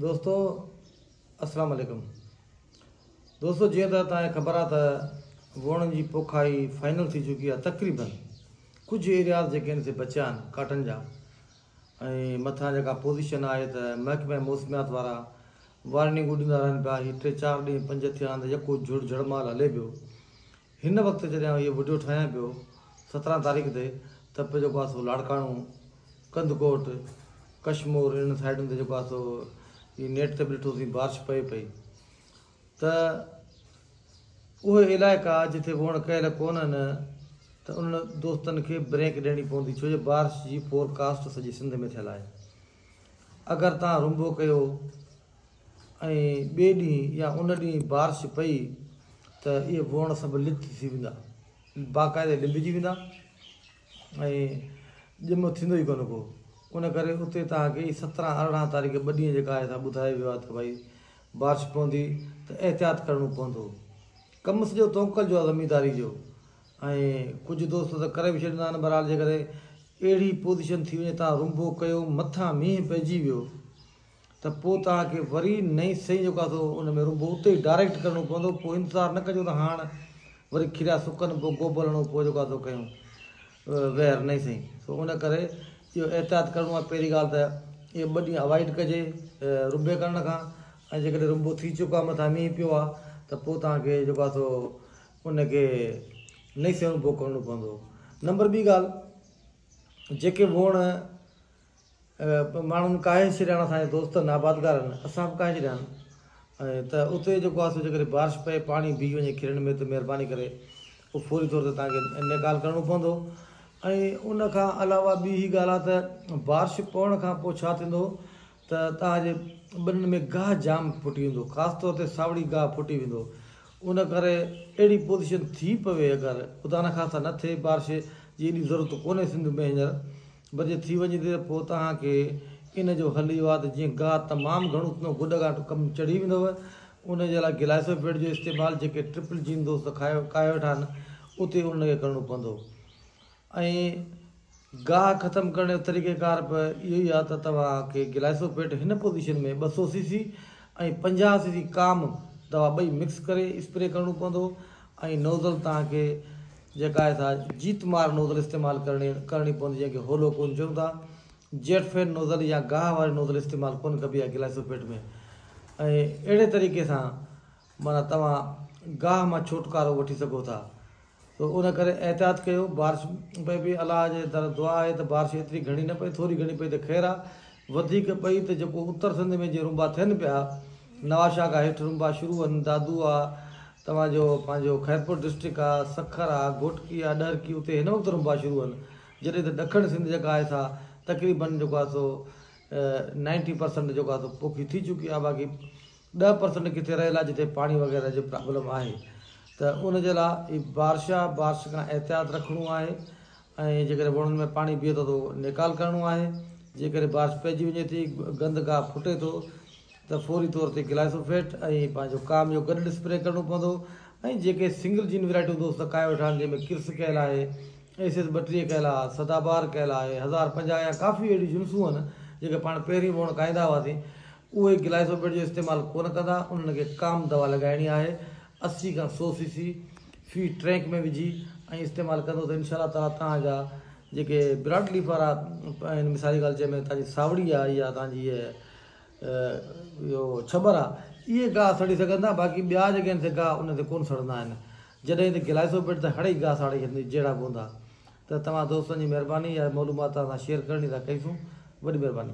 دوستو السلام عليڪم دوستو جيئن ته توهان کي خبر آهي ته ووڻن جي پوکائي فائنل ٿي چڪي آهي تقريبن ڪجهه ايرياز جيڪي آهن سي بچيا آهن ڪاٽن جا ۽ مٿان جيڪا پوزيشن آهي ته محڪمه موسميات وارا وارننگون ڏيندا رهن پيا هي ٽي چار ڏينهن پنج ٿيا آهن ته يڪو جهڙ جهڙمال هلي پيو هن وقت جڏهن آئون اهو وڊيو ٺاهيان پيو سترهن تاريخ تي ته پي جيڪو آهي سو لاڙڪاڻو، ڪنڌڪوٽ، ڪشمور انهن سائيڊن تي جيڪو آهي سو هي نيٽ تي به ڏٺوسين بارش پئي پئي ته اهي علائقا جتي ووڻ ڪيل ڪونهن ته انهن دوستن کي بريڪ ڏيڻي پوندي ڇو جو بارش جي فور ڪاسٽ سڄي سنڌ ۾ ٿيل آهي اگر تان رنبو ڪيو ۽ ٻئي ڏينهن يا ان ڏينهن بارش پئي ته اهي ووڻ سڀ لت ٿي ويندا، باقاعدي لنبجي ويندا ۽ ڄم ٿيندو ئي ڪونه ڪو. ان ڪري اتي توهان کي هي سترهن ارڙهن تاريخ ٻه ڏينهن جيڪا آهي سا ٻڌايو ويو آهي ته ڀائي بارش پوندي ته احتياط ڪرڻو پوندو. ڪم سڄو توڪل جو آهي زمينداري جو ۽ ڪجهه دوست ته ڪري به ڇڏيندا آهن بهرحال جيڪڏهن اهڙي پوزيشن ٿي وڃي توهان رنبو ڪيو مٿان مينهن پئجي ويو ته پوء توهان کي وري نئين سئي جو ڪاسو ان ۾ رنڀو اتي ئي ڊائريڪٽ ڪرڻو پوندو پوء انتظار نه ڪجو ته هاڻ وري کيريا سڪن پوء گوبل هڻو پوء جو ڪاسو ڪيون ويهر نئين سئي سو ان ڪري اهو احتياط ڪرڻو آهي پهرين ڳالهه ته اهي ٻه ڏينهن اوائڊ ڪجي رنڀي ڪرڻ کان ۽ جيڪڏهن رنڀو ٿي چڪو آهي مٿان مينهن پيو آهي ته پوء توهان کي جو ڪاسو ان کي نئين سئي رنڀو ڪرڻو پوندو نمبر ٻي ڳالهه جيڪي ووڻ ماڻهن ڪاهي ڇڏيان اسان جي دوستن آبادگارن اسان به ڪاهي ڇڏيان ته اتي جيڪو آهي سو جيڪڏهن بارش پئي پاڻي بيهي وڃي کلڻ ۾ ته مهرباني ڪري اهو فوري طور تي تان کي نيڪال ڪرڻو پوندو ۽ ان کان علاوه ٻي هي ڳالهه آهي ته بارش پوڻ کان پوء ڇا ٿيندو ته تان جي ٻنين ۾ گاهه جام ڦٽي ويندو خاص طور تي ساوڙي گاهه ڦٽي ويندو ان ڪري اهڙي پوزيشن ٿي پوي اگر خدا نخواسته نه ٿئي بارش جي ايڏي ضرورت ڪونهي سنڌ ۾ هينئر بجي ٿي وڃي ٿي ته پوء توهان کي ان جو حل اهو آهي ته جيئن گاهه تمام گهڻو ٿيندو گڏ کان ڪم چڙهي ويندو ان جي لاء گلائيسوپيڊ جو استعمال جيڪي ٽرپل جين دوست کائي کائي ويٺا آهن اتي انهن کي ڪرڻو پوندو ۽ گاهه ختم ڪرڻ جو طريقه ڪار به اهو ئي آهي ته توهان کي گلائيسوپيڊ هن پوزيشن ۾ ٻه سو سي سي ۽ پنجاهه سي سي ڪام دوا ٻئي مڪس ڪري اسپري ڪرڻو پوندو ۽ نوزل توهان کي جيڪا آهي سا جيت مار نوزل استعمال ڪرڻي ڪرڻي پوندي جنهن کي هولو ڪون چون ٿا. جيٽ فين نوزل يا گاهه واري نوزل استعمال ڪون ڪبي آهي گلائيسوپيٽ ۾ ۽ اهڙي طريقي سان معنيٰ توهان گاهه مان ڇوٽڪارو وٺي سگهو ٿا سو ان ڪري احتياط ڪيو بارش پئي پئي الله جي در دعا آهي ته بارش ايتري گهڻي نه پئي ٿوري گهڻي پئي ته خير آهي وڌيڪ پئي ته جيڪو اتر سنڌ ۾ جي رنبا ٿين پيا، نواشاهه کان هيٺ رنبا شروع هن دادو آ، توهان جو پنهنجو خيرپور ڊسٽرڪٽ آ، سکر آ، گهوٽڪي آ، ڏهرڪي اتي هن وقت رنبا شروع هن، جڏهن ته ڏکڻ سنڌ جيڪا آهي سا تقريباً جيڪو آ سو نائنٽي پرسنٽ جيڪو آ سو پوکي ٿي چڪي آ، باقي ڏهه پرسنٽ ڪٿي رهيل آ جتي پاڻي وغيره جي پرابلم آهي ته ان جي لا اي بارشا بارش کان احتياط رکڻو آهي ۽ جيڪڏهن وڻن ۾ پاڻي بيهي ٿو ته نيڪال ڪرڻو آهي، جيڪڏهن بارش پئجي وڃي ٿي، گند گاهه ڦٽي ٿو ته فوري طور تي گلائيسوفيٽ ۽ پنهنجو ڪام جو گڏ اسپري ڪرڻو پوندو ۽ جيڪي سنگل جين ويرائٽيون دوست سڪائي ويٺا آهن جنهن ۾ ڪرس ڪيل آهي، ايس ايس ٻٽيهه ڪيل آهي، سدا بهار ڪيل آهي، هزار پنجاهه يا ڪافي اهڙيون جنسون آهن جيڪي پاڻ پهرين وڻ کائيندا هئاسين اهي گلائيسوفيٽ جو استعمال ڪونه ڪندا انهن کي ڪام دوا لڳائڻي آهي اسي کان سو سي سي في ٽرينڪ ۾ وجهي ۽ استعمال ڪندو ته انشاء الله تعالي توهان جا جيڪي براڊ ليف وارا آهن مثالي ڳالهه چئي ۾ توهان جي ساوڙي آهي يا توهان جي اهو ڇٻر آهي اهي گاهه سڙي سگهن ٿا باقي ٻيا جيڪي آهن سي گاهه ان تي ڪونه سڙندا آهن جڏهن ته گلائسو پيٽ ته هڙئي گاهه ساڙي ڇڏيندي جهڙا به هوندا ته توهان دوستن جي مهرباني اها معلومات توهان سان شيئر ڪرڻي لاء ڪئي سون وڏي مهرباني.